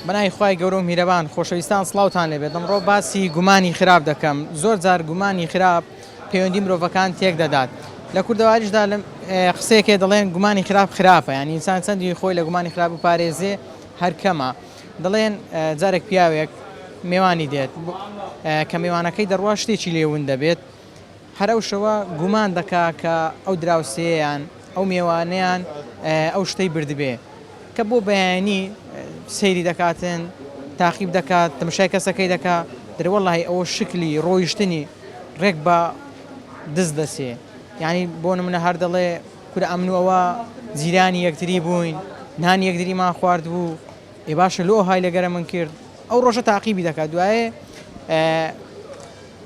بەناوی خوای گەورە و میرەبان خۆشەویستان سڵاوتان لێبێت ئەمڕۆ باسی گومانی خراپ دەکەم زۆر جار گومانی خراپ پەیوەندی مرۆڤەکان تێک دەدات لە کوردەواریشدا لەم قسەیەکێ دەڵێن گومانی خراپ خراپە یان ئینسان چەندی خۆی لە گومانی خراپ و پارێزێ هەرکەمە دەڵێن جارێک پیاوێک مێوانی دێت کە میوانەکەی دەڕوا شتێکی لێون دەبێت هەر ئەو شەوە گومان دەکا کە ئەو دراوسێیەیان، ئەو مێوانەیان ئەو شتەی بردبێ کە بۆ بەیانی سەیری دەکاتن، تاقیب دەکا، تەمشای کەسەکەی دەکا، دەرێ وەڵاهی ئەوە شکلی ڕۆیشتنی ڕێک بە دز دەچێ. یانی بۆ نمونە هەر دەڵێ کورە ئەمن و ئەوە جیرانی یەکتری بووین، نانی یەکتریمان خواردبوو، ئێ باشە لۆ ئەوهای لەگەرەمن کرد؟ ئەو ڕۆژە تاقیبی دەکا، دوایێ.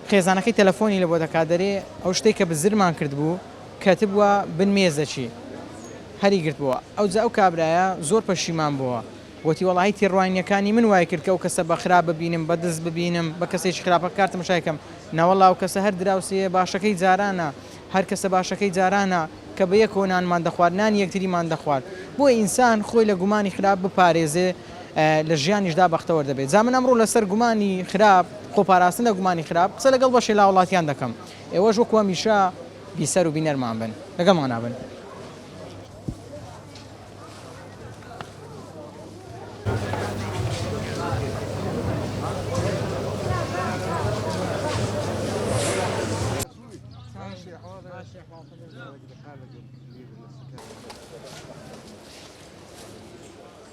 خێزانەکەی تەلەفۆنی لەبۆ دەکات دەرێ ئەو شتەی کە بزرمان کردبوو کەتبوە بن مێزەکی هەری گرتبۆوە ئەوجا ئەو کابرایە زۆر پەشیمان بۆوە وتی وەڵاهی تێڕوانینەکانی من وای کرد کە ئەو کەسە بە خراپ ببینم بە دز ببینم بە کەسێکی خراپ کار تەمەشای کەم نەوەڵا ئەو کەسە هەر دراوسێیە باشەکەی جارانە هەر کەسە باشەکەی جارانە کە بەیەکەوە نانمان دەخوارد نانی یەکتریمان دەخوارد بۆیە ئینسان خۆی لە گومانی خراپ بپارێزێ لە ژیانیشدا بەختەوەر دەبێت جا من ئەمڕۆ لەسەر گومانی خراپ خۆپاراستن لە گومانی خراپ قسە لەگەڵ بەشێ لاوەڵاتیان دەکەم ئێوەش وەکو هەمیشە بیسەر و بینەرمان بن لەگەڵمانا بن.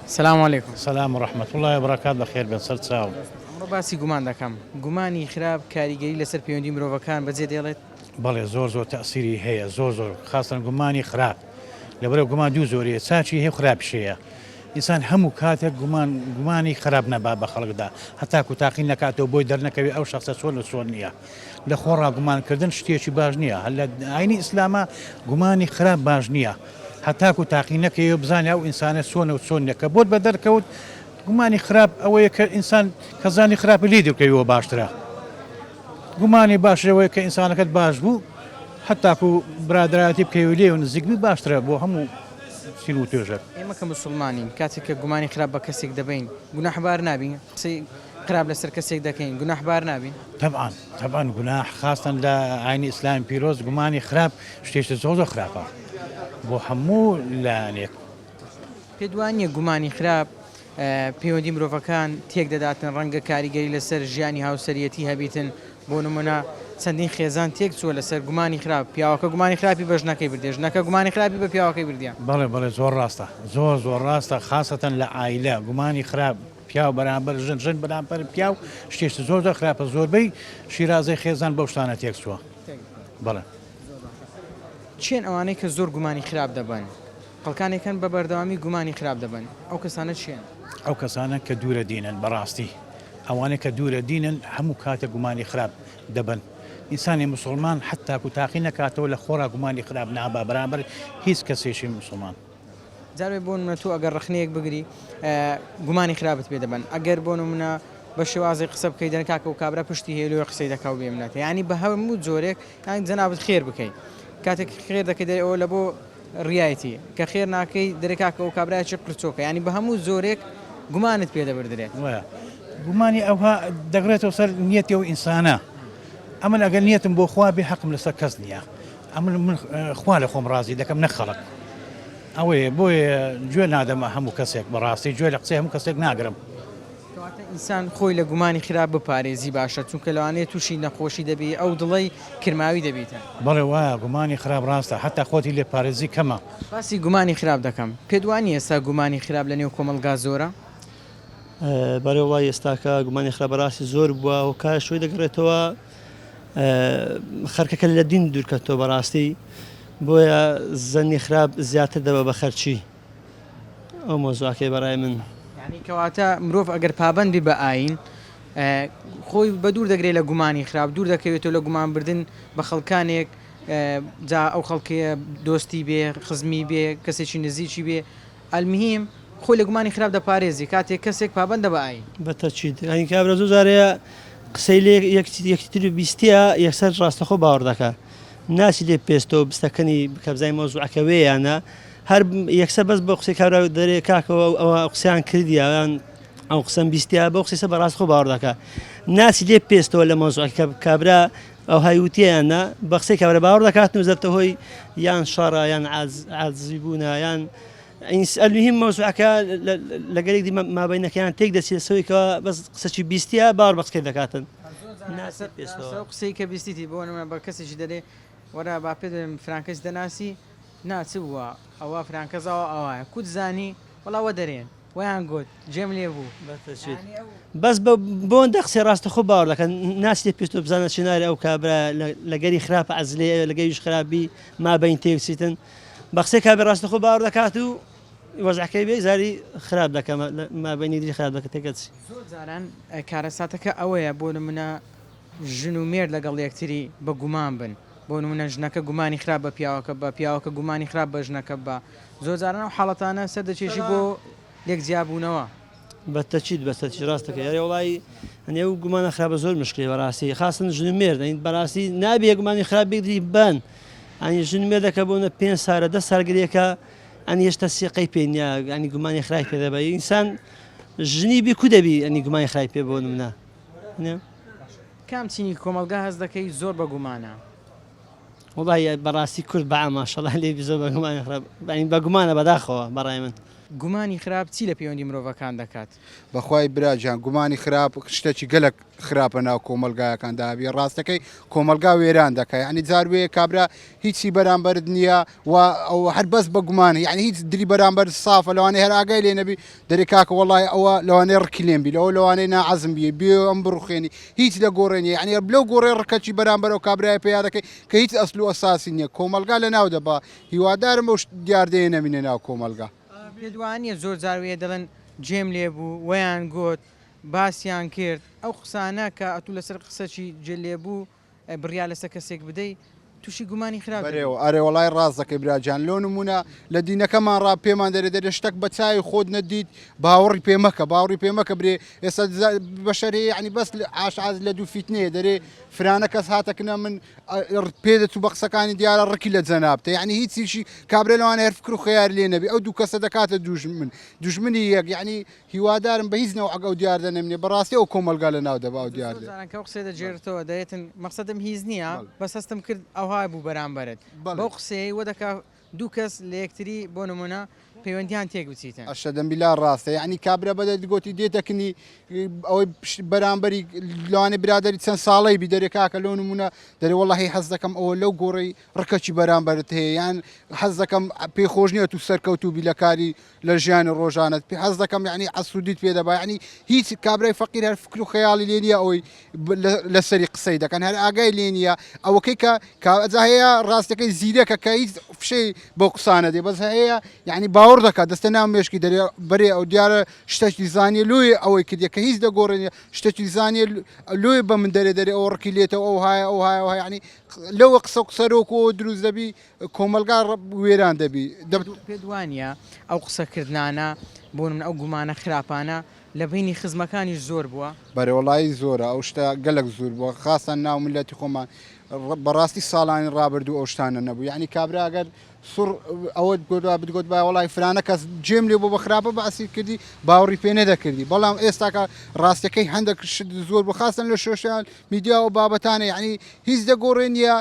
سلام علیکم. سلام و رحمت اللە و برکات بەخێر بێن سەر چاو. ئەمڕۆ باسی گومان دەکەم. گومانی خراپ کاریگەری لەسەر پەیوەندی مرۆڤەکان بەجێ دێڵێت؟ بەڵێ زۆر زۆر تەئسیری هەیە زۆر زۆر خاستەن گومانی خراپ لەبەرە گومان دوو زۆریە چاچی هەیە خراپشەیە ئینسان هەموو کاتێک گومان گومانی خراپ نەبا بە خەڵکدا هەتاکو تاقی نەکاتەوە بۆی دەرنەکەوێت ئەو شخصە چۆن و چۆن نییە. لە خۆڕا گومان کردن شتێکی باش نییە هەر لە ئاینی ئیسلامە گومانی خراپ باش نییە هەتاکو تاقی نەکەی و بزانانی ئەو ئینسانە سۆنە و سۆن نەکە بۆت بە دەرکەوت گومانی خراپ ئەوەیە کە ئینسان کەزانی خراپی لی دەکەویەوە باشترە گومانی باشەوەی کە ئینسانەکەت باش بوو هەتاکو برادایەتی بکەوی لێ و نزیکبی باشترە بۆ هەموو سیر و توێژەر ئێمە کە مسلمانین کاتێک کە گومانی خراپ بە کەسێک دەبین گوناحبار نابین قسەی قراب لەسەر کەسێک دەکەین گوناح بار نابین؟ تەبعەن تەبعەن گوناح خاستەن لە ئاینی ئیسلامی پیرۆز گومانی خراپ شتێشتە زۆر زۆر خراپە بۆ هەموو لایەنێک پێت وانییە گومانی خراپ پەیوەندی مرۆڤەکان تێک دەداتن ڕەنگە کاریگەری لەسەر ژیانی هاوسەریەتی هەبیتن بۆ نمونە چەندین خێزان تێک چووە لەسەر گومانی خراپ پیاوەکە گومانی خراپی بە ژنەکەی بردێ ژنەکە گومانی خراپی بە پیاوەکەی بردە بەڵێ بەڵێ زۆر ڕاستە زۆر زۆر ڕاستە خاستەن لە ئایلە گومانی خراپ پیاو بەرامبەر ژن ژن بەرامبەر پیاو شتێکی زۆر زۆر خراپە زۆربەی شیرازەی خێزان بەو شتانە تێکچووە بەڵێ چێن ئەوانەی کە زۆر گومانی خراپ دەبن خەڵکانێکن بە بەردەوامی گومانی خراپ دەبن ئەو کەسانە چێن ئەو کەسانە کە دوورە دینن بەڕاستی ئەوانەی کە دوورە دینن هەموو کاتە گومانی خراپ دەبن ئینسانی مسلمان حتاکو تاقی نەکاتەوە لە خۆرا گومانی خراپ نابا بەرامبەر هیچ کەسێکی مسلمان جارێ بۆ نمونە تۆ ئەگەر ڕەخنەیەک بگری گومانی خراپت پێ دەبەن ئەگەر بۆ نمونە بە شێوازێک قسە بکەی دەن کاکە و کابرا پشتی هەیە لۆیە قسەی دەکا و بێمنەتە یانی بە هەموو جۆرێک یان جەنابت خێر بکەی کاتێک خێر دەکەی دەرێ ئەوە لە بۆ ڕایەتی کە خێر ناکەی دەرێ کاکە و کابراایکی قرچۆکە ینی بە هەموو جۆرێک گومانت پێ دەبدرێت وایە گومانی ئەوها دەگرێتەوە سەر نیەتەوە ئینسانە ئەمن ئەگەر نیەتم بۆ خوا بێ حەقم لەسەر کەس نییە ئەمن من خوا لە خۆم ڕازی دەکەم نەک خەڵک ئەوەیە بۆیە گوێ نادەمە هەموو کەسێک بەڕاستی گوێ لە قسەی هەموو کەسێک ناگرم کەواتە ئینسان خۆی لە گومانی خراپ بپارێزی باشە چونکە لەوانەیە تووشی نەخۆشی دەبی ئەو دڵی کرماوی دەبیتە بەڵێ وایە گومانی خراپ ڕاستە حتا خۆتی لێ پارێزی کەمە باسی گومانی خراپ دەکەم پێت وانە ئێستا گومانی خراپ لە نێو کۆمەڵگا زۆرە بەرەوە ئێستاکە گومانی خراپ بەڕاستی زۆر بووە و کاش شوی دەگەڕێتەوە خەرکەکە لە دین دوورکەتەوە بەڕاستی بۆیە زەنی خراپ زیاتر دەبە بە خەرچی ئەو مۆزواکەی بەڕای من کەواتە مرۆڤ ئەگەر پابەندی بە ئاین خۆی بە دوور دەگرێت لە گومانی خراپ دوور دەکەوێتەوە لە گومانبردن بە خەڵکانێک جا ئەو خەڵکەیە دۆستی بێ خزمی بێ کەسێکی نزیکی بێ المهیم خۆی لە گومانی خراپ دەپارێزی کاتێک کەسێک پابەندە بە ئاین. بە تەچیت ئاین کابرا زۆر جار هەیە قسەی لێ یەکتی تر بیستیە یەکسەر ڕاستەخۆ باوەڕ دەکا ناچی لێ پێستەوە بستەکەنی بکە بزانی مەوزوعەکە وێ یا نا هەر یەکسەر بەس بە قسەی کابرا دەرێ کاکەوە ئەوە قسەیان کردیە یان ئەو قسەم بیستیا بەو قسەی سە بە ڕاستخۆ باوەڕ دەکا ناچی لێ پێستەوە لە مەوزوعەکە کابرا ئەوهای وتیەیان نا بە قسەی کابرا باوەڕ دەکاتن و زەبتە هۆی یان شەڕە یان عاجزی بوونە یان المهم مەوزوعەکە لەگەلێک دی مابینەکەیان تێک دەچی لەسەوەی کە بەس قسەی بیستە باوەڕ بە قسەی دەکاتن قسەی کە بیستیتی بۆ نمە بە کەسێکی دەرێ وەرە با پێ دەێن فرانکەش دەناسی ناچ بووە ئەوە فرانکەزاوە ئەوە کوت زانی وڵاوە دەرێن وەیان گۆت جێم لێ بوو بەسە چیت بەس بە بۆن دەقسێ ڕاستە خۆ باوەڕ دەکەن ناچێ پێستۆ بزانە چناری ئەو کابرا لەگەری خراپ عزلێ لەگەویش خراپبی ما بین تێوسیتن بە قسەی کابێ ڕاستە خۆ باوەڕ دەکات و وەزعەکەی بێ زاری خراپ دەکەم مابینی دری خراپ دەکە تێکەچ زۆر جاران کارەساتەکە ئەوەیە بۆ منە ژن و مێر لەگەڵ یەکتری بە گومان بن بۆ منە ژنەکە گومانی خراپ بە پیاوەکە بە پیاوەکە گومانی خراپ بە ژنەکە بە زۆرجاران ئەو حاڵەتانە سەردەکێشی بۆ لێک جیابوونەوە. بەتەکید بەتەکید راست دەکەی ئەرێ وەڵایی هەنێ و گومانە خراپە زۆر مشکلی بەراستی خاسن ژن و مێرد ئەین بەراستی نابێ گومانی خراپ بگری بەن ئەنی ژن مێردەکە بۆنە پێنج سارە دە سار گرێکە ئەنی هێشتا سیقەی پێ نیە ئەنی گومانی خراپ پێ دەبە ئینسان ژنی بی کو دەبی ئەنی گومانی خراپ پێ بۆ منە کام چینی کۆمەلگا هەست دەکەی زۆر بە گومانە؟ وەڵای بەڕاستی کورد بەعە ماشەڵا لێی بزۆ بەگومانە خراپ یانی بەگومانە بەداخەوە بەڕای من. گومانی خراپ چی لە پەیوەندی مرۆڤەکان دەکات؟ بەخوای برا جان گومانی خراپ شتەکی گەلەک خراپە ناو کۆمەلگایەکان دا هەبی راستەکەی کۆمەلگا وێران دەکا یعنی جار وێ کابرا هیچی بەرامبەرت نییە و ئەو هەر بەس بە گومان یعنی هیچ دری بەرامبەر سافە لەوانەیە هەر ئاگای لێ نەبی دەرێ کاکە وەڵاهی ئەوە لەوانەیە ڕکی لێم بی لەوە لەوانەیە ناعەزم بی بێ ئەم بڕوخێنی هیچ لە گۆڕێ نیە یعنی لەو گۆڕێ ڕکەچی بەرامبەر ئەو کابرایە پەیا دەکەی کە هیچ ئەسل و ئەساسی نییە کۆمەڵگا لە ناو دەبا هیوادارم ئەو دیاردەیە نەمینێ ناو کۆمەڵگا. پێت وانیە زۆر جار وێ دەڵێن جێم لێ بوو وەیان گۆت باسیان کرد ئەو قسانە کە ئەتوو لەسەر قسەچی جێ لێ بوو بڕیار لەسەر کەسێک بدەی توشی گومانی خراپ دەبی. بەرێوە ئەرێ وەڵای ڕاست دەکەی براگیان لۆ نمونە لە دینەکەمان ڕا پێمان دەرێ دەرێ شتەک بە چاوی خۆت نەدیت باوەڕی پێ مەکە باوەڕی پێ مەکە برێ ئێستا بەشەرێ یعنی بەس عاش عاز لە دوو فیتنەیە دەرێ فرانە کەس هاتە کنە من پێ دەت و بە قسەکانی دیارە ڕکی لە جەنابتە یعنی هیچیشی کابرێ لەوان هەر فکر و خەیار لێ نەبی ئەو دوو کەسە دەکاتە دوژمن دوژمنی یەک یعنی هیوادارم بە هیچ نەوعەک ئەو دیاردە نەمینێ بەڕاستی ئەو کۆمەڵگا لە ناو دەبا ئەو دیاردە. زۆر جاران کە ئەو قسەیە دەگێرتەوە دەێتن مەقسەدم هیچ نییە بەس هەستم کرد ئەوها بوو بەرامبەرت بەو قسەیەی وە دەکا دوو کەس لە یەکتری بۆ نمونە پەیوەندیان تێک بچیتن. ئەشەدەم بیلا ڕاستە یەعنی کابرا بە دەردی گۆتی دێتە کنی ئەوەی پشت بەرامبەری لەوانێ برادەری چەند ساڵەی بی دەرێ کاکە لۆ نمونە دەرێ وەڵاهی حەز دەکەم ئەوە لەو گۆڕەی ڕکەکی بەرامبەرت هەیە یان حەز دەکەم پێی خۆش نییە تو سەرکەوتوو بی لە کاری لە ژیانی ڕۆژانەت پێ حەز دەکەم یعنی عسودیت پێ دەبا یعنی هیچ کابرای فەقیر هەر فکر و خەیاڵی لێ نییە ئەوەی لەسەری قسەی دەکەن هەر ئاگای لێ نییە ئەوەکەی کە کاجا هەیە ڕاستەکەی زیرەکە کە هیچ فشەی بۆ قسانە دێ بەس هەیە یعنی باوەڕ دەکات دەستە ناو مێشکی دەرێ بەرێ ئەو دیارە شتەکی زانیە لۆی ئەوەی کردە کە هیچ دەگۆڕێنە شتەکی زانیە لۆی بە من دەرێ دەرێ ئەو ڕکی لێتەوە ئەو هاە ئەو هاە ینی لەوە قسە قسەرۆکەوە دروست دەبی کۆمەڵگا وێران دەبی. پێت وانییە ئەو قسە کردنانە، بۆ نموونە ئەو گومانە خراپانە لە بەینی خزمەکانیش زۆر بووە؟ بەرێ وەڵایی زۆرە ئەو شتە گەلەک زور بووە خاستان ناو میلەتی خۆمان بەڕاستی ساڵانی ڕابردوو ئەو شتانە نەبوو یانی کابرا ئەگەر سوڕ ئەوەت گۆدوا بتگۆت با وەڵای فرانە کەس جێم لێ بۆ بە خراپە بەعسی کردی باوەڕی پێ نەدەکردی بەڵام ئێستاکە ڕاستەکەی هەندێک شت زۆر بۆ خاستن لە شۆشیال میدیا و بابەتانە یعنی هیچ دەگۆڕێ نیە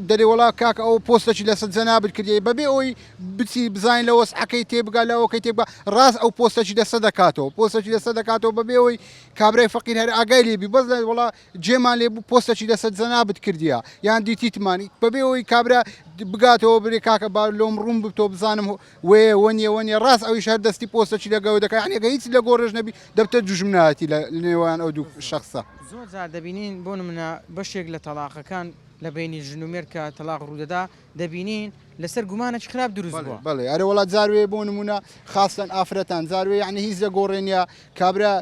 دەرێ وەڵا کاکە ئەو پۆستەچی لەسەر جەنابت کردی بەبێ ئەوی بچی بزانین لە وەسعەکەی تێبگا لە ئەوکەی تێبگا ڕاست ئەو پۆستەچی لەسە دەکاتەوە پۆستەچی لەسە دەکاتەوە بەبێ ئەوی کابرای فەقیر هەر ئاگای لێبی بەس لە وڵا جێمان لێ بوو پۆستەچی لەسەر جەنابت کردیە یان دیتیتمانی بەبێ ئەوی کابرا بگاتەوە برێ کاکە با لۆم ڕوون بتۆ بزانم وێ وەنیە وەنیە ڕاست ئەویش هەر دەستی پۆستە چی لەگەوە دەکە یعنی گە هیچ لە گۆڕێش نەبی دەبتە دوژمنایەتی لە نێوان ئەو دوو شخصە. زۆر جار دەبینین بۆ نمونە بەشێک لە تەڵاقەکان لە بەینی ژن و مێرد کە تەڵاق ڕوودەدا دەبینین لەسەر گومانێکی خراپ دروست بووە. بەڵێ بەڵێ ئەرێ وەڵا جار وێ بۆ نمونە خاستەن ئافرەتان جار وێ یعنی هیچ لە گۆڕێ نیە کابرا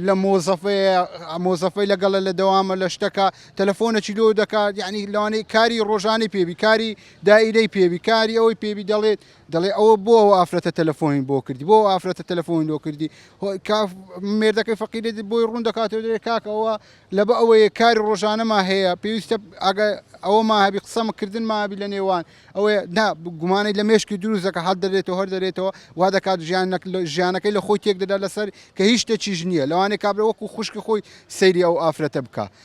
لە مۆزەفەیە مۆزەفەی لەگەڵە لە دەوامە لە شتەکە تەلەفۆنەکی لۆ دەکات یعنی لەوانەیە کاری ڕۆژانەی پێبی کاری دائیرەی پێوی کاری ئەوەی پێوی دەڵێت دەڵێ ئەوە بۆ ئەو ئافرەتە تەلەفۆین بۆ کردی بۆ ئافرەتە تەلەفۆین لۆ کردی مێردەکەی فەقیرێت بۆی ڕوون دەکاتەوە دەێ کاکەوە لە بە ئەوەیە کاری ڕۆژانەما هەیە پێویستە ئەگە ئەوە ماهبی قسەمەکردن مابی لە نێوان ئەوەیە نا گومانەی لە مێشکی دروستەکە هەڵ دەرێتەوە هەر دەرێتەوە وا دەکات ژیان ژیانەکەی لە خۆی تێک دەدا لەسەر کە هیچ شتێکیش نییە لەوانێ کابرە وەکو خوشکی خۆی سەیری ئەو ئافرەتە بکە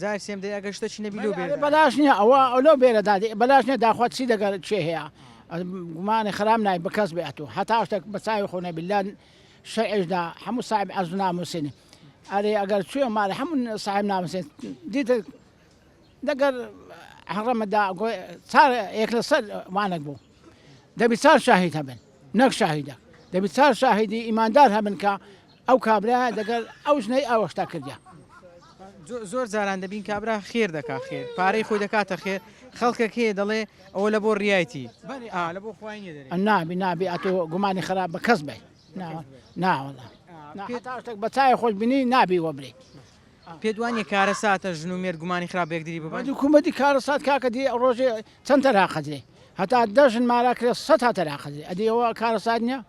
جارێ سێم دەی ئەگەر شتەکی نەبی لۆ بێرە دادەی. بەلاش نیە ئەوە لۆ بێرە دادەی بەلاش نیە داخوا چی لەگەر کێ هەیە گومانی خراپ نای بە کەس بێ ئەتوو هەتا شتەک بە چاوی خۆ نەبی لە شەرعیش دا هەموو ساحێب عەرز و نامووسین ئەرێ ئەگەر چوویە ماڵی هەموو ساحێب نامووسین دیتت لەگەر حەڕەمە دا گۆ چار یەک لە سەر وانەک بوو دەبی چار شاهید هەبن نەک شاهیدەک دەبی چار شاهیدی ئیماندار هەبن کە ئەو کابرا دەگەل ئەو ژنەی ئاوەشتا کردە. زۆر جاران دەبین کابرا خێر دەکا خێر پارەی خۆی دەکاتە خێر خەڵکە کێ دەڵێ ئەوە لە بۆ ڕایتی لە بۆ خۆی نابی نابی ئەتۆ گومانی خراپ بە کەس بێ ناوەڵە تاشتێک بە چای خۆش بینی نابی وەبرێ پێدوانی کارە ساتە ژن و مێر گومانی خراپ بێکدری ببند کومەتی کارە سات کاکە دی ڕۆژێ چەند تەراقەدرێ هەتا دەژن مارا کرێ سە تا تەراقەدرێ ئەدیەوە کارە سات نیە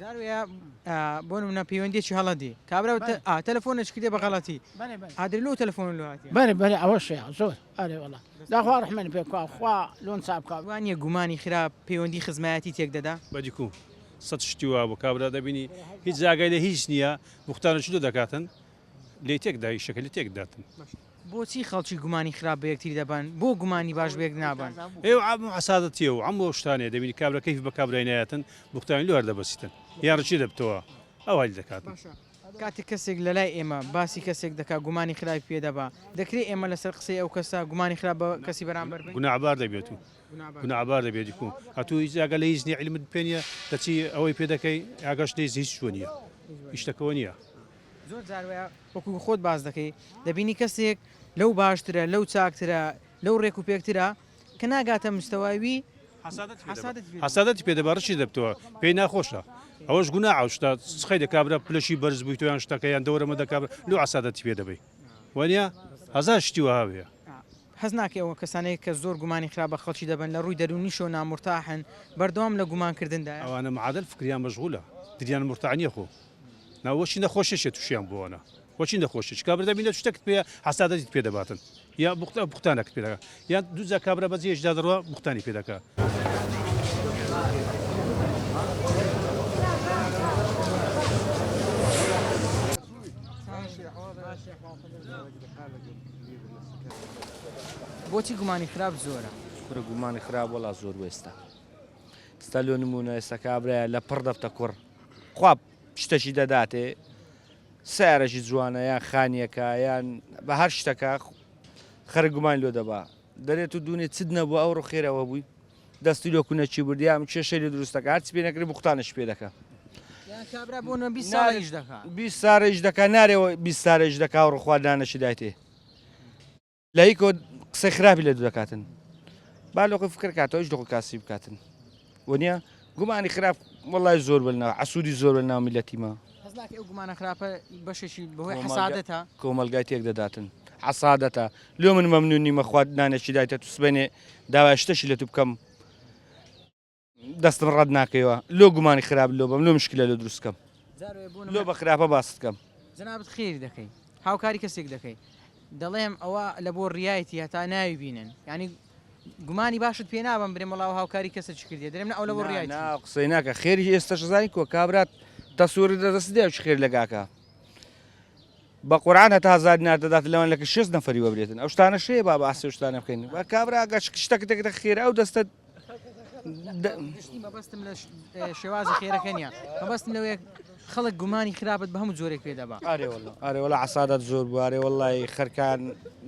جار وەیە بۆ نمونە پەیوەندیەکی هەڵە دێ کابرا بەڵێ. تە- ئا، تەلەفۆنێکی کردێ بە غەڵەتی بەێ بەێ ئا درێ لۆ تەلەفۆن لۆ هاتیە بەێ بەێ ئەوەشەیە زۆر ئەرێ وەڵا داخوا ڕەحمێنت پێ بکا خوا لۆن چا بکا. وانیە گومانی خراپ پەیوەندی خزمایەتی تێک دەدا؟ بەدیکو سەد شتی وابوو کابرا دەبینی هیچ ئاگای لە هیچ نیە بوختانە چی لۆ دەکاتن. لێ تێک دا ئیشەکە لێ تێک داتن. بۆچی خەڵکی گومانی خراپ بە یەکتری دەبەن بۆ گومانی باش بەیەک نابەن؟ ئێ و عەم و عەسادەتیە و عەم و شتانەیە دەبینی کابرا کەیف بە کابرای نایەتن بوختانی لۆ هەر دەبەسیتن یان رچی دەبتەوە ئەوە هەلی دەکاتن. باشە کاتێک کەسێک لە لای ئێمە باسی کەسێک دەکا گومانی خراپی پێ دەبا دەکرێ ئێمە لە سەر قسەی ئەو کەسە گومانی خراپ بە کەسی بەرامبەر بەین؟ گوناعبار دەبێت و گوناعبار دەبێت دیکو ئەتوو هیچ ئاگا لە هیچ نیە عیلمت پێ نیە دەچی ئەوەی پێ دەکەی ئاگاش لە هیچ شوێ نیە هیچ شتەکەوە نیە. زۆر جار وایە وەکو خۆت باس دەکەی دەبینی کەسێک لەو باشترە لەو چاکترە لەو ڕێک و پێکترە کە ناگاتە مستەوای وی حەسادەتی پێ دەبا ڕچی دەبتەوە پێی ناخۆشە ئەوەش گونا عوشتا سخی دەکبرا پلەشی بەرز بووی تۆیان شتەکەیان دەورەمە دەکب لو عسادەتی پێ دەبی وەنیە هەزار شتی وهاوەیە حەز ناکە ئەوە کەسانەیە کە زۆر گومانی خراپ بە خەڵکی دەبن لە ڕووی دەرونیشەوە نامرتاحن بەردەوام لە گومانکردندا ئەوانە معادل فکریان مەشغولە دریان مرتاح نیە خۆ نا وەچی نەخۆشە چیە توشیان بووانە وەچی نەخۆشە چ کابرا بینە شتەکت پێ حەسادەتی پێ دەباتن یا بوختە بوختانەکت پێدا یا دوجا کابرا بە جێشدا دەڕوە بوختانی پێ دەکە بۆچی گومانی خراپ زۆرە کورە گومانی خراپ وەڵا زۆر وێستا ستا لۆ نمونە ئێستا کابرایە لە پڕ دەفتە کوڕ خوا شتەکی دەداتێ سارەکی جوانە یان خانیەکە یان بە هەر شتەکە خەر گومان لۆ دەبا دەرێت و دوونێ چت نەبوو ئەو ڕخێرەوە بووی دەستی لۆ کونەچی بردیان کێشەی لە دروستەکە هەرچ پێ نەکرێ بختانش پێ دەکە سارێژ دەکە نارێەوە بی سارێژ دەکا و ڕخواردانەشی دایتێ لایکۆ قسەی خراپی لە دوورەکاتن با لەخۆی فکر کاتەوە هیچ دەخۆ کاسی بکاتن وەنیە گومانی خراپ وڵای زۆر بنا عسوودی زۆر بە ناومی لە تیمە گومانە خراپە بەشێکی بەهۆی حسادەتە کۆمەلگای تێک دەداتن حسادەتە لۆ من مەمنونی مەخوات نانێکی دایتە تو سبێنێ داوای شتەشی لە تو بکەم دەستم ڕەت ناکەیەوە لۆ گومانی خراپ لۆ بم لۆ مشکلە لۆ دروستکەم لۆ بە خراپە باست کەم جنابت خێری دەکەی هاوکاری کەسێک دەکەی دەڵێم ئەوە لە بۆ ڕایەتی هەتا ناوی بینن ینی گومانی باشت پێ نابم برێ مەڵاو هاوکاری کەسە چ کردێ درێم ئەو لە بۆ ڕای قسەی ناکە خێری ئێستا شزانی کۆ کابرات تەسوور دەدەست دێ خێر لەگاکە بە قورآان هەتا هزار ناردەدات لەوان لەکە شێست نەفری وەبرێتن ئەو شتانە شێ با بە ئاسێشتانە بکەین بە کابراگەش شتەکە دەکە خێرا ئەو دەستە گشتی مەبەستم لە شێوازی خێرەکە نیە مەبەستم لەوەیە خەڵک گومانی خراپت بە هەموو جۆرێک پێ دەبا ئارێوەڵ عسادات زۆر بوارێ وڵی خەرکان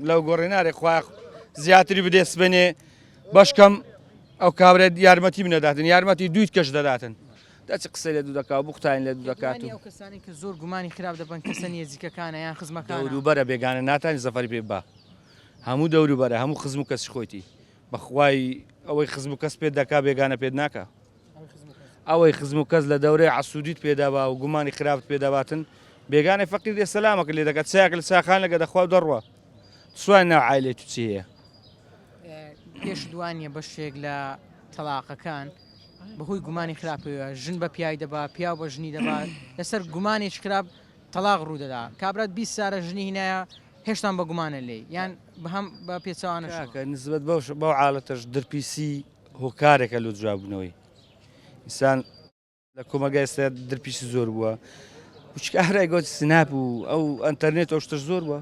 لەو گۆڕێنارێ خوا زیاتری بدێ سبێنێ بەشکەم ئەو کابرێت یارمەتی منەداتن یارمەتی دویت کەش دەداتن دەچ قسە لە دوو دەکات بختین لە دوو دەکات و کەسانی کە زۆر گومانی خراپ دەبن کەسە نێزیکەکانە یان خزمەکان دووبەرە بێگانە ناتانی زەفەری پێ بە هەموو دەوروبەرە هەموو خزم و کەسی خۆیتی بەخوای ئەوەی خزم و کەس پێت دەکا بێگانە پێت ناکا ئەوەی خزم و کەس لە دەورەی عەسودیت پێ دەبا و گومانی خراپت پێ دەباتن بێگانەی فەقیر دێ سەلامەکە لێ دەکات چایەک لە چاخانەکە دەخوا و دەڕوا سوان ناو عایلەی تو چی هەیە پێش دوانیە بەشێک لە تەلاقەکان بەهۆی گومانی خراپەوە ژن بە پیای دەبا پیا بە ژنی دەبات لەسەر گومانێک خراپ تەلاق ڕوودەدا کابرات بی سارە ژنی هینایە هێشتان بە گومانە لێی یان بەهەم بە پێچەوانە شوو؟ کاکە نسبەت بەوش بەو حالەتەش درپیسی هۆکارێکە لۆ جواببوونەوەی ئینسان لە کۆمەگای ئێستا درپیسی زۆر بووە وچکە ئارای گۆت سناپ و ئەو ئەتەرنێت ئەو شتەش زۆر بووە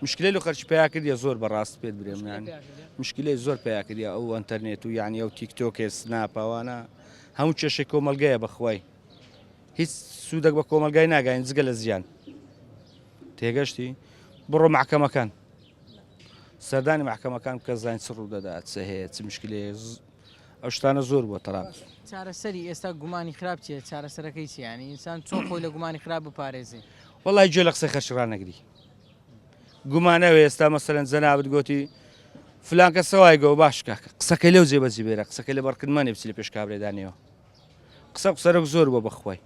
مشکلی لە خەرچی پیا کردە زۆر بەڕاست پێت برێم یانی مشکلی زۆر پیا کردە ئەو ئەتەرنێت و یعنی ئەو تیکتۆکێ سناپەوانە هەموو کێشە کۆمەلگەیە بەخوای هیچ سوودەک بە کۆمەلگای ناگەین جگە لە زیان تێگەشتی؟ بڕۆ مەحکەمەکان سەردانی مەحکەمەکان بکە زانین چ ڕوو دەدات چ هەیە چ مشکلەیە ئەو شتانە زۆر بووە تەرابز چارەسەری ئێستا گومانی خراپ چیە چارەسەرەکەی چیانی ئینسان چۆن خۆی لە گومانی خراپ بپارێزی وڵی گوێ لە قسە خەرچ ڕانەگری گومانەوە ئێستا مەسەرەن جەنابەت گوتی فلانکە سەوای گۆ باشکە قسەکە لەو جێبەجی بێرە قسەکە لە بەڕکردمانێ بچی لە پێش کابرێدانەوە قسە و قسەرەک زۆر بوە بەخوای.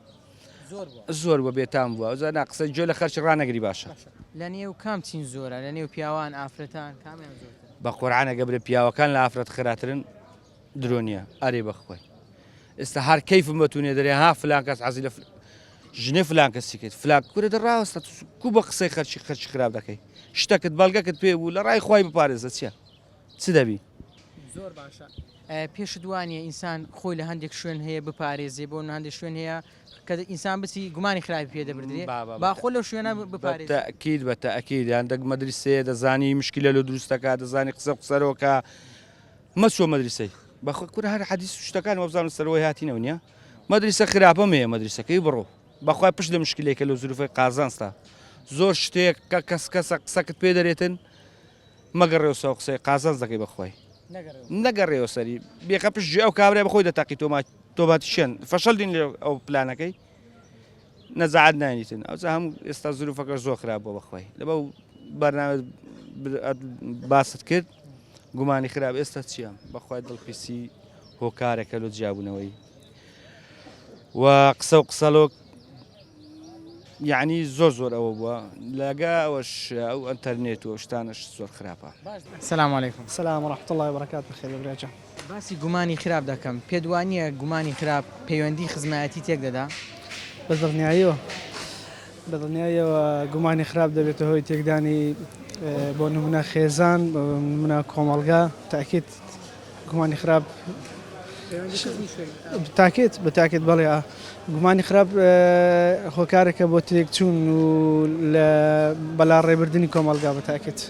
زۆر بوە. زۆر بوە بێتام بوە ئەوجا نا قسە گوێ لە خەرکی ڕانەگری باشە. باشە لە نێو کام چین زۆرە لە نێو پیاوان ئافرەتان کامیان زۆرترە؟ بە قورعان ئەگە برێ پیاوەکان لە ئافرەت خێراترن درۆ نیە ئەرێ بەخوای ئێستا هەر کەیفم بە تونێ دەرێ ها فلان کەس عەزی لە فلان ژنێ فلان کەسی کرد فلان کورە دە ڕاوەستە کو بە قسەی خەرکی خەرکی خراپ دەکەی شتەکت بەڵگەکت پێ بوو لە ڕای خوای بپارێزە چیە چ دەبی؟ زۆر باشە پێشت وانیە ئینسان خۆی لە هەندێک شوێن هەیە بپارێزێ بۆ هەندێک شوێن هەیە کە ئینسان بچی گومانی خراپی پێ دەبردرێ باخۆ لەو شوێنە بپارێت تاکیید بە تاکیید یان دەک مەدرسێ دەزانی مشکلە لە دروستەکە دەزانی قسە قسەرۆکە مەچۆ مەدرسەی بەخۆ کورە هەر حەدیس و شتەکان وەبزانم سەرەوەی هاتینەوە نیە مەدرسە خراپە مێ مەدرسەکەی بڕۆ بەخوای پشت لە مشکلێکە لە زروفی قازانستا زۆر شتێک کە کەس کەسە قسەکت پێ دەرێتن مەگەڕێوە سەو قسەی قازانج دەکەی بەخوای نەگەڕێوە سەری بێخە پشت جێ ئەو کابرای بەخۆی دەتەقی تۆما تۆبات شێن فەشەل دین لێ ئەو پلانەکەی نەزعات نانیتن ئەو هەم ئێستا زروفەکە زۆر خراپ بۆ بەخوای لە بەو بەرنامە باست کرد گومانی خراپ ئێستا چییە بەخوای دڵپیسی هۆکارەکە لۆ جیابوونەوەی و قسە و قسەلۆک یعنی زۆر زۆر ئەوە بووە لەگە ئەوەش ئەو ئەتەرنێت و شتانش زۆر خراپە سلام علیکم سلام ڕحت الله بەکات بخێ برێجە باسی گومانی خراپ دەکەم پێت وانە گومانی خراپ پەیوەندی خزمایەتی تێک دەدا بە دڵنیاییەوە بە دڵنیاییەوە گومانی خراپ دەبێتە هۆی تێکدانی بۆ نمونە خێزان منە کۆمەلگا تاکیت گومانی خراپ تاکێت بە تاکێت بەڵێ گومانی خراپ هۆکارەکە بۆ تێکچوون و لە بەلا ڕێبردننی کۆمەلگا بە تاکێت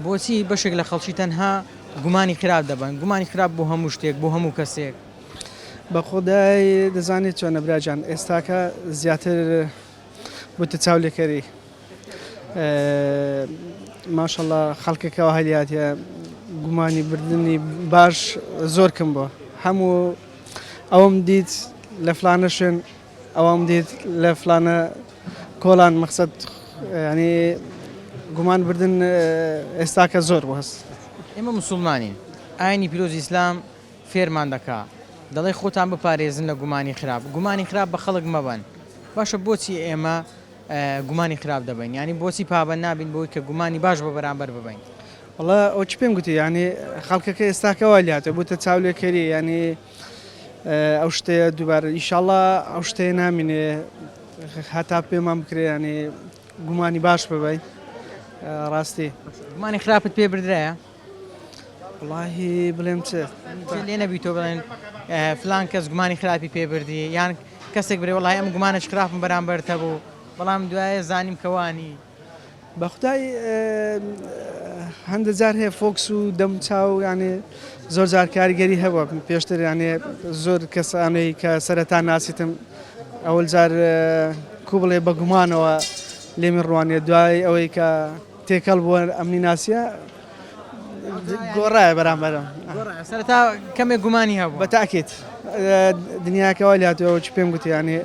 بۆچی بەشێک لە خەڵکی تەنها گومانی خراپ دەبن گومانی خراپ بۆ هەموو شتێک بۆ هەموو کەسێک بە خۆدای دەزانێت چۆنە براجان ئێستاکە زیاتر بتە چاولێکەری ماشاءاللە خەڵکێک کەوا هەلیاتە گومانی بردنی باش زۆر کەم بووە هەموو ئەوم دیت لە فلانە شوێن ئەوم دیت لە فلانە کۆلان مەخسەد ینی گومان بردن ئێستاکە زۆر بەس ئێمە مسلمانین ئاینی پیرۆزی ئیسلام فێرمان دەکا دەڵێ خۆتان بپارێزن لە گومانی خراپ گومانی خراپ بە خەڵک مەبەن باشە بۆچی ئێمە گومانی خراپ دەبەین یانی بۆچی پابەند نابین بەوەی کە گومانی باش بە بەرامبەر ببەین؟ وەڵا ئەوەچ پێم گوتی یانی خەڵکەکە ئێستاکە وای لێهاتوە بوتە چاولێکەری یانی ئەو شتەیە دوبارە ئیشاڵا ئەو شتەیە نامینێ هەتا پێمان بکرێ یانی گومانی باش ببەین ڕاستی. گومانی خراپت پێ بردرایە؟ وەڵاهی بڵێم چ لێ نەبی تۆ بڵێن فلان کەس گومانی خراپی پێ بردی یان کەسێک برێ وڵی ئەم گومانش خراپم بەرامبەرتە بوو بەڵام دوایە زانیم کەوانی بەخدای هەندە جار هەیە فۆکس و دەم چاو یانێ زۆر جار کاریگەری هەبووە پێشتر یانێ زۆر کەسانەی کە سەرەتا ناسیتم ئەوەل جار کو بڵێ بە گومانەوە لێمی ڕوانێ دوای ئەوەی کە تێکەڵ بووە ئەمنی ناسیە گۆڕایە بەرامبەر سەرەتا کەمێک گومانی هەبوو بە تاکێت دنیاکەەوە لاتەوە چ پێم گوتیانێ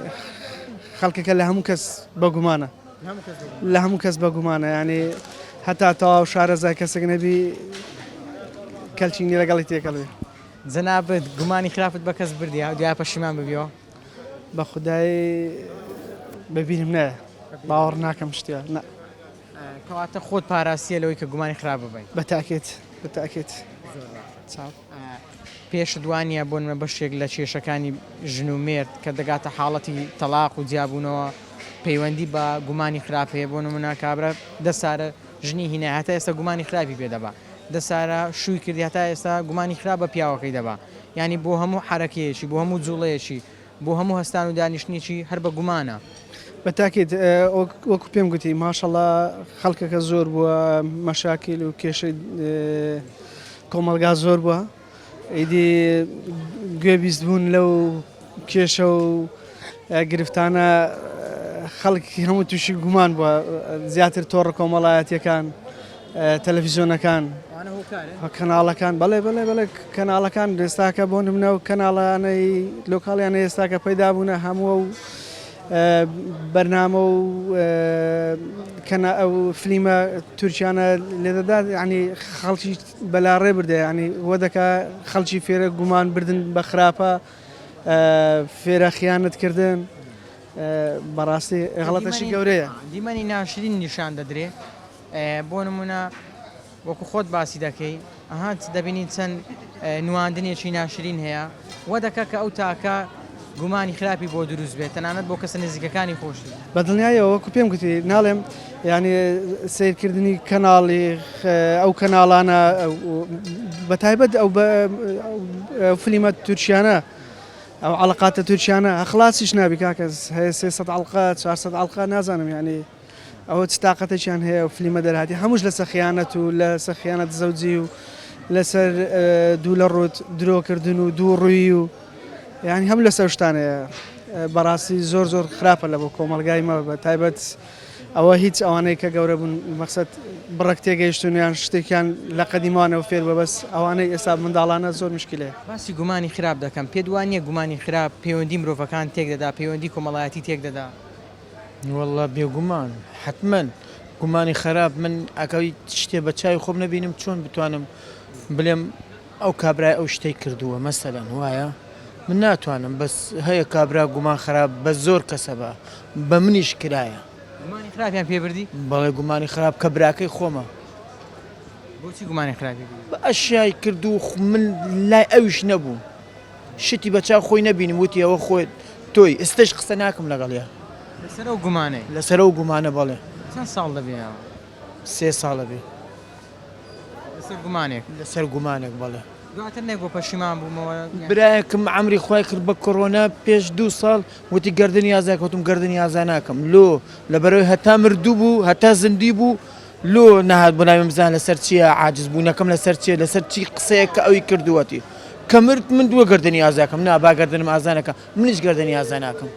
خەڵکەکە لە هەموو کەس بە گومانە لە هەموو کەس بە گومانە ینی هەتا تەواو شارەزا کەسێک نەبی کەلچینی لەگەڵی تێکەڵێ جەنابەت گومانی خراپت بە کەس بردیا دیا پەشیمان ببیەوە بە خودای بە بیرم نایە باوەڕ ناکەم شتیا نە. کەواتە خۆت پاراستیە لەوەی کە گومانی خراپ ببەی. بە تاکێت بە تاکێت. زۆر باش. چاو. پێشت وانیە بۆ نمونە بەشێک لە کێشەکانی ژن و مێرد کە دەگاتە حاڵەتی تەڵاق و جیابوونەوە پەیوەندی بە گومانی خراپ هەیە بۆ نمونە کابرا دە سارە ژنی هینای هەتا ئێستا گومانی خراپی پێ دەبا دە سارا شووی کردی هەتا ئێستا گومانی خراپ بە پیاوەکەی دەبا یانی بۆ هەموو حەرەکەیەکی بۆ هەموو جوڵەیەکی بۆ هەموو هەستان و دانیشتنێکی هەر بە گومانە. بە تاکید وەکو پێم گوتی ماشەڵا خەڵکەکە زۆر بووە مەشاکیل و کێشەی کۆمەڵگا زۆر بووە. ئیدی گوێ بیست بوون لەو کێشە و گرفتانە خەڵک هەموو تووشی گومان بووە زیاتر تۆڕ کۆمەڵایەتیەکان تەلەفیزیۆنەکان کەناڵەکان بەڵێ بەڵێ بەڵێ کەناڵەکان دەستاکە بۆ نمنە و کەناڵانەی لۆکاڵیان ئێستاکە پەیدا بوونە هەموو و بەرنامە و کەنا ئەو فلیمە تورکیانە لێدەدات ینی خەڵکی بەلا ڕێ بردە یانی وە دەکا خەڵکی فێرە گومان بردن بە خراپە فێرە خیانەت کردن بەڕاستی غڵەتەشی گەورەیە دیمەنی ناشرین نیشان دەدرێ بۆ نمونە وەکو خۆت باسی دەکەی ئەها دەبینین چەند نواندنێکی ناشرین هەیە. وە دەکا کە ئەو تاکە گومانی خراپی بۆ دروست بێت تەنانەت بۆ کەسە نزیکەکانی خۆشی. بە دڵنیایەوە وەکو پێم گوتی ناڵێم یانی سەیر کردنی کەناڵی ئەو کەناڵانە بە تایبەت ئەو فلیمە تورکیانە ئەو عەڵقاتە تورکیانە خڵاسیش نابی کاکەس هەیە سێ سەد عەڵقە چوار سەد عەڵقە نازانم یانی. ئەوە چ تاقەتێکیان هەیە ئەو فلیمە دەرهاتیە هەمووش لەسەر خیانەت و لەسەر خیانەت زەوجی و لەسەر دوو لە ڕووت درۆکردن و دوو ڕووی و یعنی هەم لەسەر شتانەیە بەڕاستی زۆر زۆر خراپە لە بۆ کۆمەلگای مە بە تایبەت ئەوە هیچ ئەوانەی کە گەورە بوون مەخصد بڕک تێگەیشتونیان شتێکیان لە قەدیمانەوە فێر بە بەس ئەوانەی ئێستا منداڵانە زۆر مشکلەیە. باسی گومانی خراپ دەکەم پێت وانیە گومانی خراپ پەیوەندی مرۆڤەکان تێک دەدا پەیوەندی کۆمەڵایەتی تێک دەدا. وەڵڵا بێگومان حەتمەن گومانی خەراپ من ئەکەوی شتێ بە چاوی خۆم نەبینم چۆن بتوانم بلێم ئەو کابرای ئەو شتەی کردووە مەسەلەن وایە من ناتوانم بەس هەیە کابرا گومان خراپ بە زۆر کەسە بە بە منیش کرایە گومانی خراپیان پێ بردی بەڵێ گومانی خراپ کە براکەی خۆمە بۆچی گومانی خراپی بە ئەشیای کردو من لای ئەویش نەبووم شتی بە چاو خۆی نەبینم وتی ئەوە خۆی تۆی ئستەش قسە ناکم لەگەڵیا. لەسەر ئەو گومانەی؟ لەسەر ئەو گومانە بەڵێ. چەند ساڵ دەبێ ئەوە؟ سێ ساڵ ئەبێ. لەسەر گومانێک؟ لەسەر گومانێک بەڵێ. دواتر نەیگۆ پەشیمان بوومەوە؟ برایەکم عەمری خۆی کرد بە کۆرۆنا پێش دوو ساڵ وتی گەردنی ئازای کەوتووم گەردنی ئازا ناکەم لۆ لەبەرەوەی هەتا مردوو بوو هەتا زندی بوو لۆ نەهات بۆ ناویم بزانە لەسەر چیە عاجز بونەکەم لەسەر چیە لەسەر چی قسەیەک کە ئەوی کردوەتی کە مرد من دوە گەردەنی ئازا کەم نا با گەردەنم ئازا نەکا منیش گەردەنی ئازا ناکەم.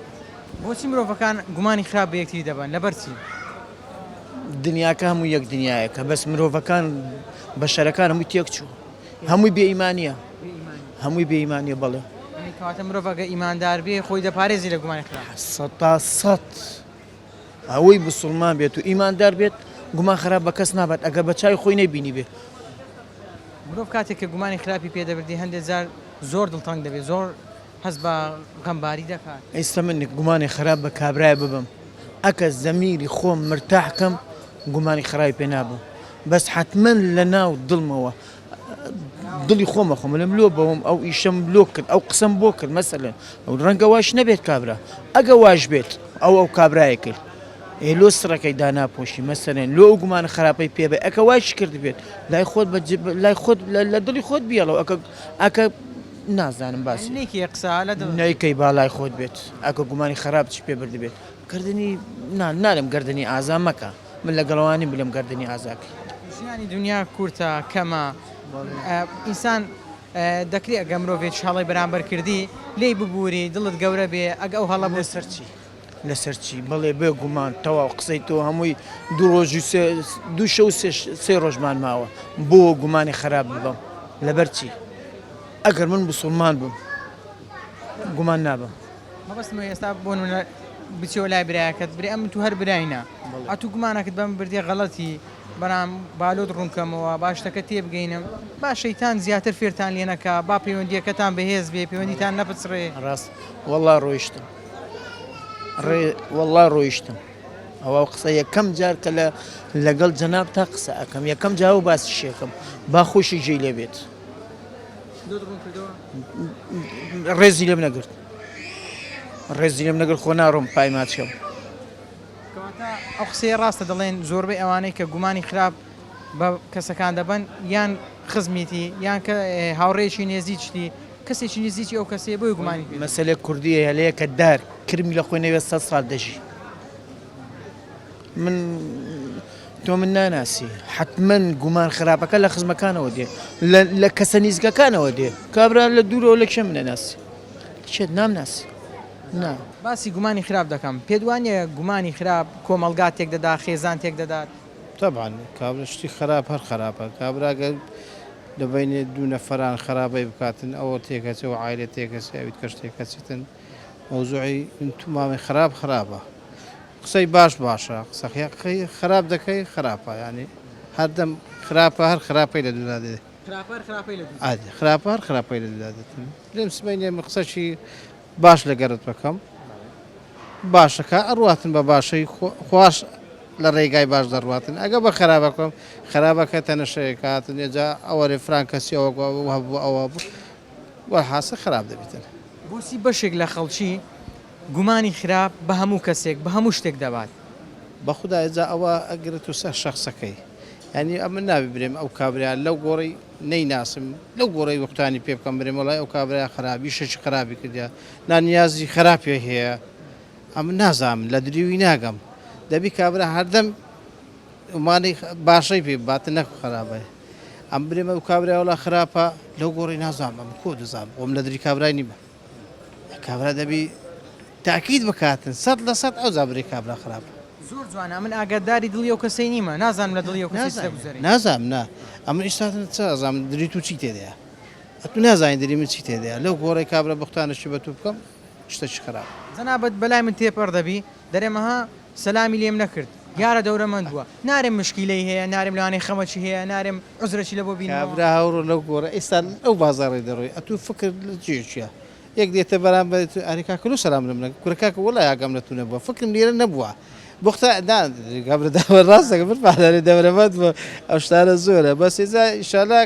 بۆچی مرۆڤەکان گومانی خراپ بە یەکتری دەبەن؟ لەبەر چی؟ دنیاکە هەمووی یەک دنیایەکە بەس مرۆڤەکان بەشەرەکان هەمووی تێک چووە هەمووی بێ ئیمانیە هەمووی بێ ئیمانیە بەڵێ. یەعنی کەواتە مرۆڤ ئەگەر ئیماندار بێ خۆی دەپارێزی لە گومانی خراپ؟ سەد تا سەد. ئەوەی بسوڵمان بێت و ئیماندار بێت گومان خراپ بە کەس نابات ئەگەر بە چاوی خۆی نەیبینیبێ. مرۆڤ کاتێک کە گومانی خراپی پێ دەبردی هەندێ جار زۆر دڵتەنگ دەبێ زۆر هەست بە غەمباری دەکات. ئیستە من گومانی خراپ بە کابرایە ببەم ئەکە زەمیری خۆم مرتاح کەم گومانی خراپی پێ نابەم بەس حەتمەن لە ناو دڵمەوە دڵی خۆمە خۆم لەم لۆ بەوم ئەو ئیشەم لۆ کرد ئەو قسەم بۆ کرد مەسەلەن ئەو ڕەنگە واش نەبێت کابرا ئەگە واش بێت ئەو ئەو کابرای کرد ئێ لۆ سڕەکەی داناپۆشی مەسەرێن لۆ ئەو گومان خراپەی پێ بە ئەکە وایش کرد بێت لای خۆت بە لای خۆت لە دڵی خۆت بیاڵەوە ئەکە ئەکە نازانم باسی نێکی قسە لە دڵ نەیکەی باڵای خۆت بێت ئەکە گومانی خراپ چ پێ بردبێت کردنی نان نالم گردنی ئازا مەکە من لە گەڵەوە نیم بلێم گەردنی ئازاکەی. ژیانی دونیا کورتە کەمە ئینسان دەکری ئەگە مرۆڤێکی هەڵەی بەرامبەر کردی لێی ببوری دڵت گەورە بێ ئەگە ئەو هەڵە بوو. لەسەر چی لەسەر چی بەڵێ بێ گومان تەواو قسەی تۆ هەمووی دوو ڕۆژ و سێ دوو شەو و سێ سێ ڕۆژمان ماوە بۆ گومانی خەراپ ببەم لەبەر چی ئەگەر من بسوڵمان بم گومان نابەم. مەبەستمە ئێستا بۆ نموونە بچیەوە لای برایەکەت برێ ئەم تو هەر برای نا ئەتوو گومانەکەت بەم بردیە غەڵەتی بەرام بالۆت ڕوونکەمەوە با شتەکە تێبگەینم با شەیتان زیاتر فێرتان لێ نەکا با پەیوەندیەکەتان بەهێز بێ پەیوەندیتان نەپچڕێ ڕاست وەڵا ڕۆیشتم ڕێ وەڵا ڕۆیشتم ئەوە قسە یەکەم جار کە لە لەگەڵ جەناب تا قسە ئەەکەم یەکەم جاو باسی شێکم با خۆشی جێ لێ بێت ڕێزی لێم نەگرت ڕێزی لێم نەگرت خۆ ناڕۆم پای ماچکەم ئەو قسەی ڕاستە دەڵێن زۆربەی ئەوانەی کە گومانی خراپ بە کەسەکان دەبن یان خزمیتی یان کە هاوڕێکی نێزییشتی کەسێکی نزیکی ئەو کەسێ بۆی گومانی مەسلێک کوردی هەلەیە کە دار کرمی لە خۆی نەوێت سە ساڵ دەژی من تۆ من ناناسی حتممەن گومان خراپەکە لە خزمەکانەوە دێ لە کەسە نیزگەکانەوە دێ کابرا لە دوورەوە لە کێم نەناسی چێت نامناسی نا باسی گومانی خراپ دەکەم پێدوانە گومانی خراپ کۆمەلگا تێک دەدا خێزان تێک دەدات طبعا کابرا شتی خراپ هەر خراپە کابراگەر دەبینێ دوو نەفران خراپەی بکاتن ئەوە تێکەچەوە عیلە تێکەچێت کەش تێکەچێتن مەوزوعی من تومامی خراپ خراپە قسەی باش باشە قسەی خراپ دەکەی خراپە یانی هەردەم خراپە هەر خراپەی لە دودا دێ خراپە هەر خراپەی لە دودا دێت لێم سمەینێ من قسەشی باش لە گەرت بەکەم باشەکە ئەڕاتن بە باشەی خواش لە ڕێگای باش دەڕاتن ئەگە بە خراپە بکەم خراپەکە تەنەشەیەکاتن ێجا ئەوە رێ فران کەسی ئەوە هەبوو ئەوە بوو وە حاسە خراپ دەبیتن بۆسی بەشێک لە خەڵکی گومانی خراپ بە هەموو کەسێک بە هەموو شتێک دەبات. بەخودای جا ئەوە ئەگرت و سەر شەخسەکەی یانی ئەمن نابی برێم ئەو کابرایە لەو گۆڕی نەی ناسم لەو گۆڕی وقتانی پێ بکەم برێم وەڵای ئەو کابرایە خراپ یشەکی خراپی کردیە نا نیازی خراپی هەیە ئەمن نازانم لە دریوی ناگەم دەبی کابرا هەردەم ئەمانی باشەی پێ بات نەک خراپەی ئەم برێمە ئەو کابرای وەڵا خراپە لەو گۆڕی نازانم ئەمن کۆ دەزانم وم لە دری کابرای نیمە. کابرا دەبی تاکید بکاتن سەد لە سەد ئەوجا بری کابرا خراپە. زۆر جوانە ئەمن ئاگاداری دڵی ئەو کەسەی نیمە نازانم لە دڵی ئەو کەسەی چ دەگوزەرێ. نازانم نا ئەمن ئیستاتن چ ئەزانم دری تو چی تێدایە ئەتو نازانی دری من چی تێدایە لەو گۆڕەی کابرا بختانە چی بە تو بکەم شتەکی خراپ. جەنابت بەلای من تێپەڕ دەبی دەرێم ئەها سەلامی لێم نەکرد دیارە دەورەمەند بووە نارێم مشکیلەی هەیە نارێم لەوانەیە خەمەکی هەیە نارێم عوزرەکی لەبۆ بینیوە. کابرا هەوڕە لەو گۆڕە ئیستا ئەو بازاڕەی دەڕۆی ئەتوو فکرت لە جێ چیە یەک دێتە بەرامبەرت ئەرێ کاکە لۆ سەلام لەم نەکرد کورە کاکە وەڵای ئاگام لە توو نەبووە فکرم لێرە نەبووە بوختە نا کابرا داوە ڕاست دەکە من پالارێ دەورەمەند بووە ئەو شتانە زۆرە بەس ئێجا ئیشالا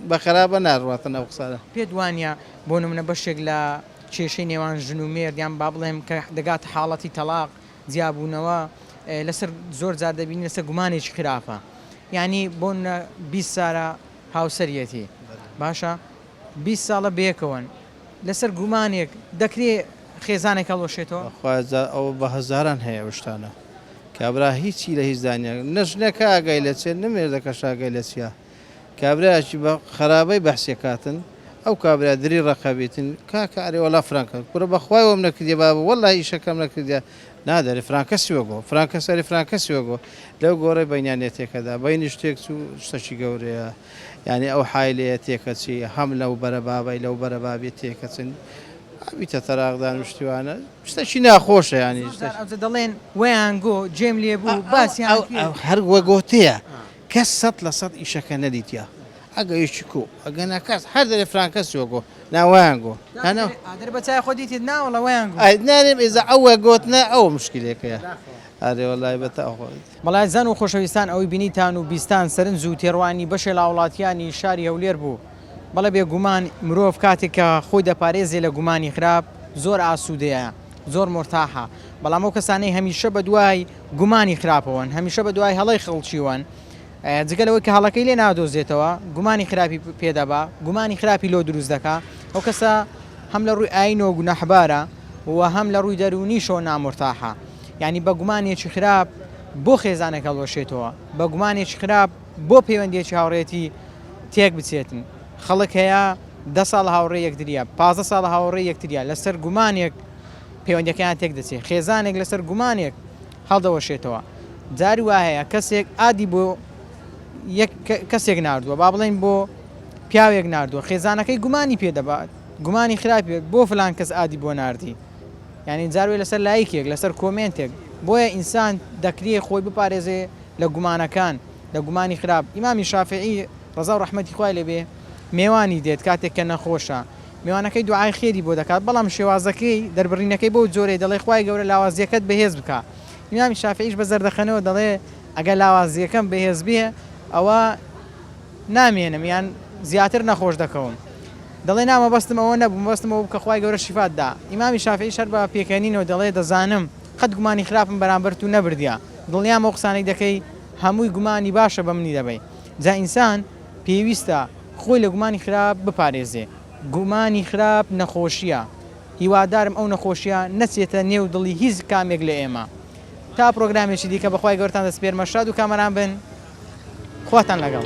بە خەرابە ناڕواتن ئەو قسانە. پێت وانیە بۆ نمونە بەشێک لە کێشەی نێوان ژن و مێرد یان با بڵێم کە دەگاتە حاڵەتی تەڵاق، جیابوونەوە، لەسەر زۆر جار دەبینین لەسەر گومانێکی خراپە. یانی بۆ نمونە بیست سارە هاوسەریەتی باشە بیست ساڵە بەیەکەوەن لەسەر گومانێک دەکرێ خێزانێک هەڵوەشێتەوە؟ بەخوایە ئەوە بە هەزاران هەیە ئەو شتانە. کابرا هیچی لە هیچدا نیە. نە ژنەکە ئاگای لە چیە نە مێردەکەش ئاگای لە چیە. کابرایەکی بە خەرابەی بەحسی کاتن ئەو کابرا دری ڕەقە بیتن کاکە ئەرێ وەڵا فرانکە کورە بەخوای وەم نەکردیە بابە وەڵا ئیشەکەم نەکردیە نادە ئەرێ فرانکە سوێ گۆ فرانکە سەری فرانکە سوێ گۆ لەو گۆڕێ بەینیان نێتێکەدا بەینیش تێک چوو شتەکی گەورەیە یانی ئەو حایلەیە تێکەچی هەم لەو بەرە بابەی لەو بەرە بابی تێکەچن ئەویتە تەراقدان و شتیوانە شتەکی ناخۆشە یانی دەڵێن وەیان گۆ جێم لێ بوو باسیان هەر وەگۆتەیە کەس سەد لە سەد ئیشەکە نەدیتیە ئەگە یەکی کو ئەگە نا کەس هەر دەرێ فلان کەس چوە گۆ نا وەیان گۆ نا نا ئادر بە چای خۆ دیتیت نا وەڵا وەیان گۆ. ئەی نارێم ئیزە ئەوە گۆتنە ئەوە مشکیلەکەیە ئەرێ وەڵای بە تا خۆ. مەڵایزان و خۆشەویستان ئەوەی بینیتان و بیستان سەرنج و تێڕوانینی بەشێ لاوڵاتیانی شاری هەولێر بوو. بەڵێ بێگومان مرۆڤ کاتێک کە خۆی دەپارێزێ لە گومانی خراپ زۆر ئاسوودەیە زۆر مورتاحە بەڵام ئەو کەسانەی هەمیشە بەدوای گومانی خراپەوەن هەمیشە بەدوای هەڵەی خەڵکیوەن جگە لەوەی کە هەڵەکەی لێ نادۆزێتەوە گومانی خراپی پێ دەبا گومانی خراپی لۆ دروست دەکا ئەو کەسە هەم لە ڕووی ئاینەوە گوناحبارە و هەم لە ڕووی دەروونیشەوە نامورتاحە یعنی بە گومانێکی خراپ بۆ خێزانەکە هەڵوەشێتەوە بە گومانێکی خراپ بۆ پەیوەندیەکی هاوڕێیەتی تێک بچێتن خەڵک هەیە دە ساڵ هاوڕێ یەکتریە پازە ساڵ هاوڕێ یەکتریە لەسەر گومانێک پەیوەندەکەیان تێک دەچێت خێزانێک لەسەر گومانێک هەڵدەوەشێتەوە جاری وا هەیە کەسێک ئادی بۆ کەسێک نردووە با بڵین بۆ پیاوێک نردووە خێزانەکەی گومانی پێ دەبات گومانی خراپێت بۆ فلان کەس ئادی بۆ نردی یعنی جاروێ لەسەر لایکێک لەسەر کۆمنتێک بۆیە ئینسان دەکرێ خۆی بپارێزێ لە گومانەکان، لە گومانی خراپ، ئیمامی شافیعی ڕەزا و ڕەحمەتی خوای لێ بێ مێوانی دێت کاتێک کە نەخۆشە، مێوانەکەی دوعای خێری بۆ دەکات، بەڵام شێوازەکەی دەربڕینەکەی بەو جۆرەی دەڵێ خوای گەورە لاوازیەکەت بەهێز بکا، ئیمامی شافیعیش بە زەردەخەنەوە دەڵێ ئەگەر لاوازیەکەم بەهێز بێ ئەوە نامێنم یان زیاتر نەخۆش دەکەوم، دەڵێ نا مەبەستم ئەوە نەبوو مەبەستم ئەوە بوو کە خوای گەورە شیفات دا، ئیمامی شافیعیش هەر بە پێکەنینەوە دەڵێ دەزانم، قەت گومانی خراپم بەرامبەر تو نەبردیە دڵنیام ئەو قسانەی دەکەی هەمووی گومانی باشە بە منی دەبەی جا ئینسان پێویستە خۆی لە گومانی خراپ بپارێزێ گومانی خراپ نەخۆشیە هیوادارم ئەو نەخۆشیە نەچێتە نێو دڵی هیچ کامێک لە ئێمە تا پرۆگرامێکی دیکە بەخوای گەورەتان دەسپێرمە شاد و کامەران بن خواتان لەگەڵ.